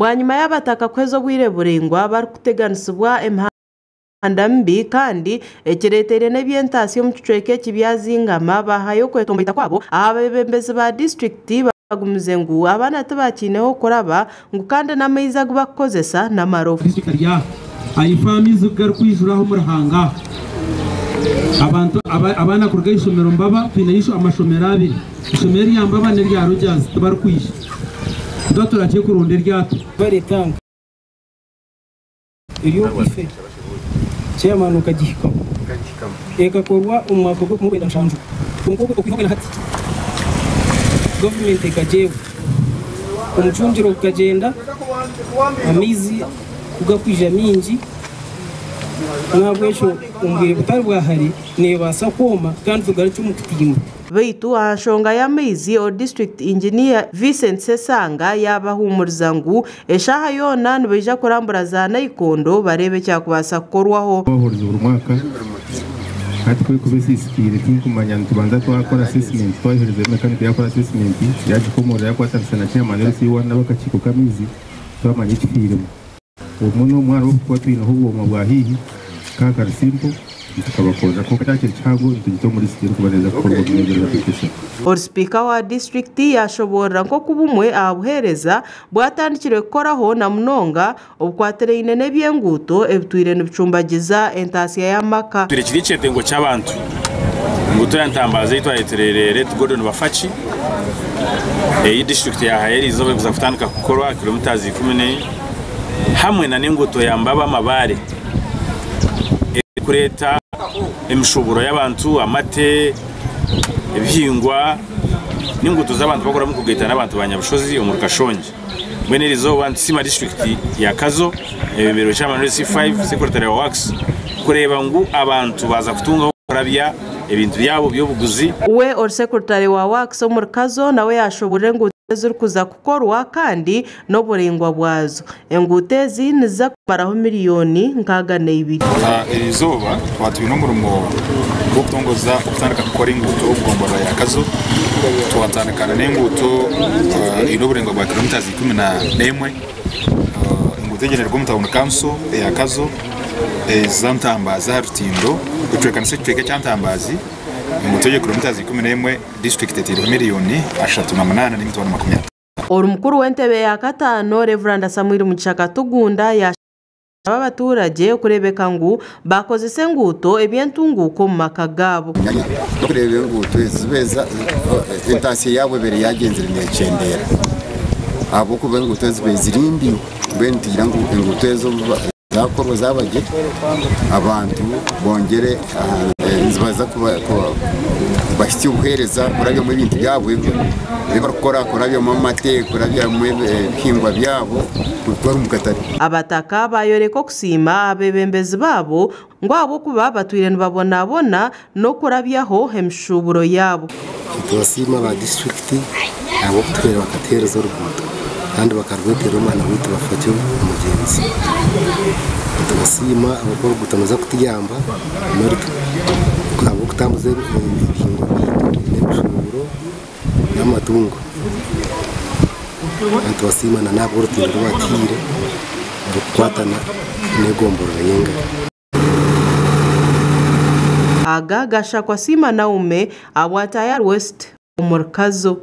Bwanyima y'Abataka kuheza obwire buraingwa barikuteganisibwa emihanda mibi kandi ekireeteire n'eby'entaasya omu kicweka eki byazingama, baahayo okwetomboita kwabo aha beebembezi ba disiturikiti, Bagumize ngu abaana tibakyineho kuraba ngu kandi n'amaizi agu bakukozesa n'amarofa. Aifo amaizi ku garikwijura aha omuruhanga abantu abaana kuruga aha ishomero mbaba twine amashomero abiri ishomero erya mbaba nerya Rogers tibarikwija tuba turakye kurunda eryato. eri omu ife, chairman okagihikamu. Ekakorwa omu mwaka gwa kumwenda mushanju kwonka okwihaho na hati government ekagyewa. Omucungire gukagyenda amaizi kugakwija mingi nahabwekyo omu bwire butari bwa hare nebaasa kwoma kandi tugarukye omu kutimba. Beitu aha nshonga y'amaizi, o district engineer Vincent Sesanga yabahuumuriza ngu Eshaaha yoona nibaija kurambura za naikondo bareebe ekyakubaasa kukorwaho. Abahurizi buri mwaka hati ku erikuba esiisikaire tinkumanya nitubanza twakora asesimenti twahuriza eri mekanika yaakora asesimenti yaagikomoorora yaakwatanisa na chairman LC1 n'abakakiiko k'amaizi twamanya ekifiiremu. Obumwe n'obumwe hariho obu tuba twineho obwoma bwa haihi ka kari simple nitukabakorera kwonka ekyakiri kihango nitugita omu lisiti erikuba neeza kukorwa omu myezi erikuza kuhika esatu. Ori sipiika wa disiturikiti yaashoboorora nk'oku bumwe aha buheereza bwatandikire kukoraho na munonga obukwatiraine n'eby'enguuto ebitwire nibicumbagiza entaatsya y'amaka. Twire kiri ekyetengo ky'abantu ngu turi aha ntambara zeitu aheeterire Late Gordon Bafaki ei disiturikiti yahayo eri izooba erikuza kutandika kukorwa aha kilometres ikumi n'emwe hamwe nana enguuto ya Mbaba Mabare erikureeta emishuburo y'abantu, amate, ebihingwa. N'enguuto z'abantu bakora omu kugaita n'abantu ba Nyabushozi omuri Kashongi. Mbwenu eri izooba nitusiima disiturikiti ya Kazo ebeberwe chairman w'e C5 secretary wa Works kureeba ngu abantu baaza kutunga ah'okurabya ebintu byabo by'obuguzi. We ori secretary wa Works omuri Kazo nawe yashoborora enguuto ezirikuza kukorwa kandi n'oburaingwa bwazo. Enguuto ezi niziza kumaraho miliyooni nkaaga na ibiri. Eri izooba tukaba twine omurimo gw'okutongoza okutandika kukora enguuto omu gomborora ya Kazo. Twatandika na n'enguuto eine oburingwa bwa kilometres ikumi na n'emwe. Enguuto egi neruga omu tawuni kanso eya Kazo eza Ntambaazi aha rutindo ecwekanisa ekicweka ekya Ntambaazi. Enguuto egyo kilometres ikumi n'emwe disiturikiti eteireho miliyooni ashatu na munaana n'emitwaro makumi ataano. Ori mukuru w'entebe ya kataano Rev Samuel Mugisha Katugunda yashaba abaturagye kureebeka ngu bakozesa enguuto eby'entunguuka omu maka gaabo. N'okureeba enguuto ezi zibeeza entaasya yaabo ebeire yagyenzire neekyendeera ahabw'okuba enguuto ezi zibeire ziri mbi mbwenu nitugira ngu enguuto ezo Zaakworwa zaaba gye, abantu bongere nizibaasa kubahitsya obuheereza kurabyamu ebintu byabo ebi barikukora, kurabyamu amate, kurabyamu ebihingwa byabo kuruga omu katare. Abataka baayoreka okusiima abeebembezi baabo Ngu ahabw'okuba batwire nibabonabona n'okurabyaho emishuuburo yaabo. Nitubasiima aba disiturikiti ahabw'okutuhwera bakatuheereza oruguuto kandi bakarweteera omwana waitu Bafakyo Mugyenzi. Nitubasiima ahabw'okuba oruguuto niruza kutuyamba ahabw'okutambuza ebihingwa byaitu n'emishuuburo. n'amatungo nitubasiima n'ahabw'orutindo oru batuhaire orikukwatana n'egomborora y'Engari. Aga Gashakwa Siima Naume ahabwa Tayari West omuri Kazo.